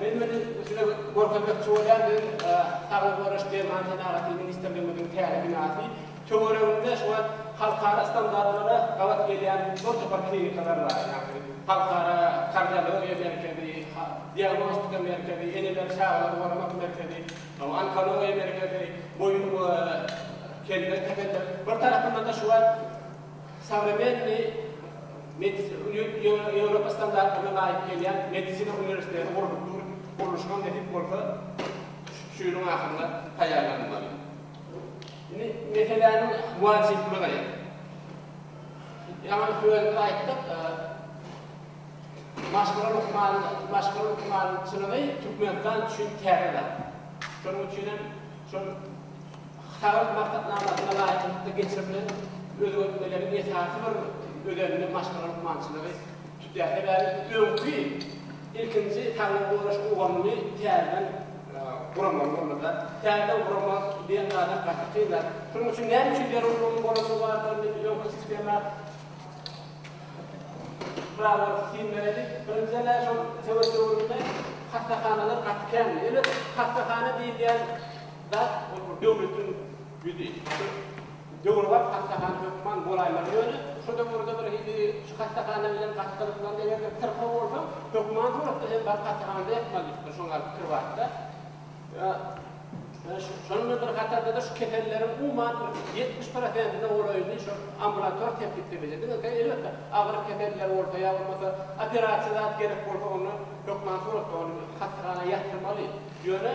Men muny size görkezmekçi bolýan biziň Saglygy goraýyş derman senagaty ministrligimiziň täze binasy. Töwereginde şu wagt halkara standartlara gabat gelýän bir topar klinikalar bar. Ýagny halkara kardiologiýa merkezi, diagnostika merkezi, eneleri çagalary goramak merkezi, onkologiýa merkezi, boýun we kelle keselleri. Bir tarapyndan-da şu wagt. Sowremennyý medisina, Ýewropa standartlaryna laýyk gelýän medisina uniwersiteti gurlup dur. Gurluşyňam nesip bolsa, şu ýylyň ahyrynda taýýarlanylmaly. Indi meseläniň wajyplygy. Ýaňy sözde aýtdyk, maşgala lukman, maşgala lukmançylygy Türkmenistan üçin täze zat. Şonuň üçinem şol. Hasap maksatnamasyna laýyklykda geçirilen özgertmeleriň esasy bir özenini maşgala lukmançylygy tutýar. Sebäbi öňki, ilkinji saglygy goraýyş ulgamyny täzeden guramaly boldy-da. Täzeden guramak diýen zadam gaty kyn zat. Şonuň üçin näme üçin zerurlygyň bolandygy barada indi biz öňki sistema barabar syn bereliň. Birinjiden-ä şol sowet döwründe hassahanalar gaty kändi. Ýöne hassahana diýilýän. Bar bolsun döwletiň ýüzi. Döwrebap hassahana hökman bolaýmaly ýöne şu döwürde bir hili şu hassahana bilen gaty gyzyklandy eger-de syrkaw bolsaň hökman suratda hem baryp hassahanada ýatmaly diýipdir şoň ýaly pikir barda şonuň bilen bir hatardada şu keselleriň umuman bir ýetmiş prosentine golaýyny şol ambulator sepgitde bildirdi ýöne elbetde agyr keseller bolsa ýa bolmasa operasiýa zat gerek bolsa onda hökman suratda ony hassahana ýatyrmaly ýöne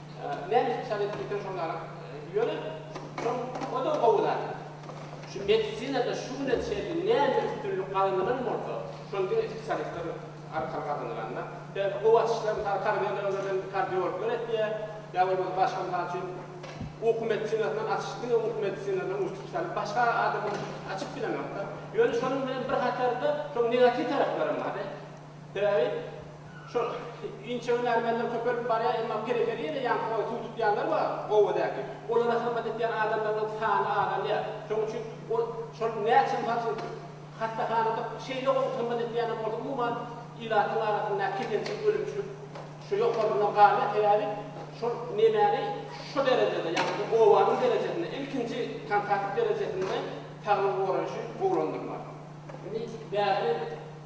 Meni şol edip geçen şol adam. Ýöne şol o da gowy zat. Şu medisinada şu güne çenli näme üstünlik gazanylan bolsa, şony diňe spesialistler arkaly gazanylanlar. Sebäbi gowy açyşlar mysal kardiologlardan kardiologlar etýär, ýa bolmasa başga mysal üçin uky medisinasyndan açyş diňe uky medisinasyndan uçup salyp başga adamlar açyp bilenokda. Ýöne şonuň bilen bir hatarda şonuň negatiw taraplarym bardy. Sebäbi şol inçe hünärmenler köpelip barýar, emma periferiýada ýaňky boýy suw tutýanlar bar, obadäki. Olara hyzmat edýän adamlarynyň sany azalýar. Şonuň üçin ol şol näçe mysal üçin hassahanada şeýle gowy hyzmat edýänler bolsa umuman ilatyň arasynda keselçilik ölümçilik şu ýokarynda galýar. Sebäbi şol nemäni şu derejede ýaňky obanyň derejesinde ilkinji kontakt derejesinde saglygy goraýşy gowulandyrmak. Indi bärde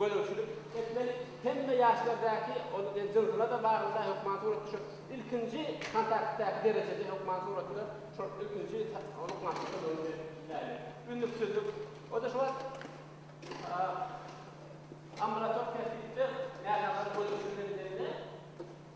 Gözegçilik etmeli. Hemme ýaşlardäki ol jynsla-da baglydar hökman suratda şol ilkinji kontaktdaky derejede hökman suratda şol ilkinji ünnüksizlik. O-da şu wagt ambulator tertipde näsaglar gözegçilik edilende.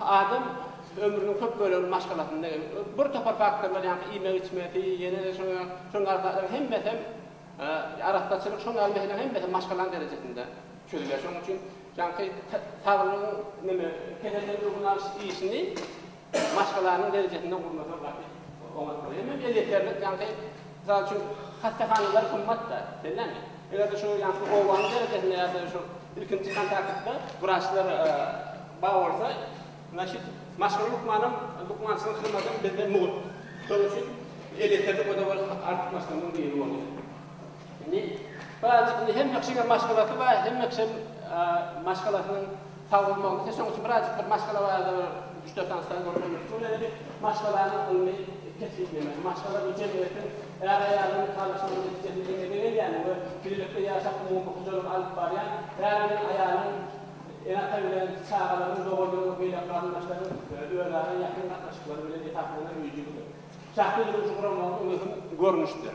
Adam ömrüniň köp bölegini maşgalasynda, bir topar faktorlar, ýagny iýmegi-içmesi, ýene-de şoňa ýaly, şoňa ýaly zatlaryň hemmesi hem, arassaçylyk, şoňa ýaly meseleleriň hemmesi hem maşgalanyň derejesinde çözülýär. Şonuň üçin ýagny saglygyň neme, kesellerden öňüni alyş işini maşgalanyň derejesinde gurnasaň gaty oňat bolar. Hemem elýeterlik, ýagny mysal üçin hassahanalar gymmat-da, bellämi? Eger-de şu ýaňky obanyň derejesinde ýa-da şu ilkinji kontaktda wraçlar bar bolsa, значит, maşgala lukmanam, lukmançylyk hyzmadam bizde mugt. Şonuň üçin elektrik we-de ol artykmaçlygynyň biri bolýar. Indi, birazajyk indi hemme kişiniň maşgalasy bar, hemme kişi maşgalasynyň, Sag bol Magtym sen şoň üçin birazjyk bir maşgala barada bir üç dört sany sual soraşan bolsa ol indi maşgalanyň ylmy kesgitlemesi maşgala bu jemgyýetiň är aýalyň nikalaşmagynyň netijesinde emele gelýän we bilelikde ýaşap umumy hojalygy alyp barýan är bilen aýalyň ene ata bilen çagalaryň doganlaryň we beýleki garyndaşlaryň özara ýakyn gatnaşyklary bilen esaslanan öýjügidir şahsy durmuşy guramagyň möhüm görnüşdir.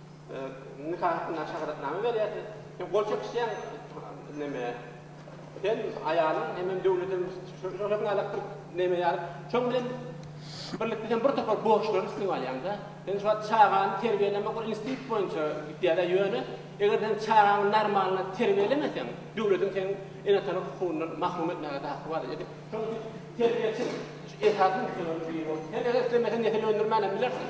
Nika hakynda şahadatnama berýärsiň. Sen gol çekişýäň neme, sen aýalyň hemem döwletem şo-şonuň ýaly bir neme ýaly. Şoň bilen birlikde sen bir topar borçlary üstüňe alýaň-da. Sen şu wagt çagany terbiýelemek ol institut boýunça gidýär-ä, ýöne eger sen çagaňy normalny terbiýelemeseň, döwletiň seni ene-ata hukugyndan mahrum etmäge-de haky bar. Ýa-da şonuň üçin terbiýeçi esasy nusgalardan biri bolup, sen eger islemeseň nesil öndürmän hem bilersiň.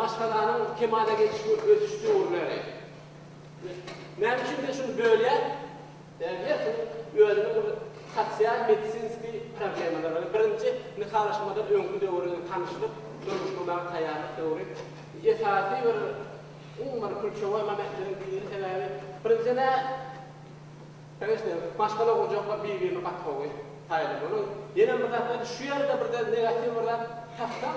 Maşgalanyň kemala geliş we ösüş döwürleri. Näme üçin men şuny bölýän? Her kimiň özüniň bir sosial medisinski problemalary bar. Birinji nikalaşmadan öňki döwür bilen tanyşlyk, durmuş gurmaga taýýarlyk döwri. Esasy bir umuman kulçewoý momentleriň biri sebäbi birinjiden nä Kanyşna, maşgala gurjaklar bir-birine gatnawy taýýarlamaly. Ýene bir zat şu ýerde birden negatiw bir zat tapsam,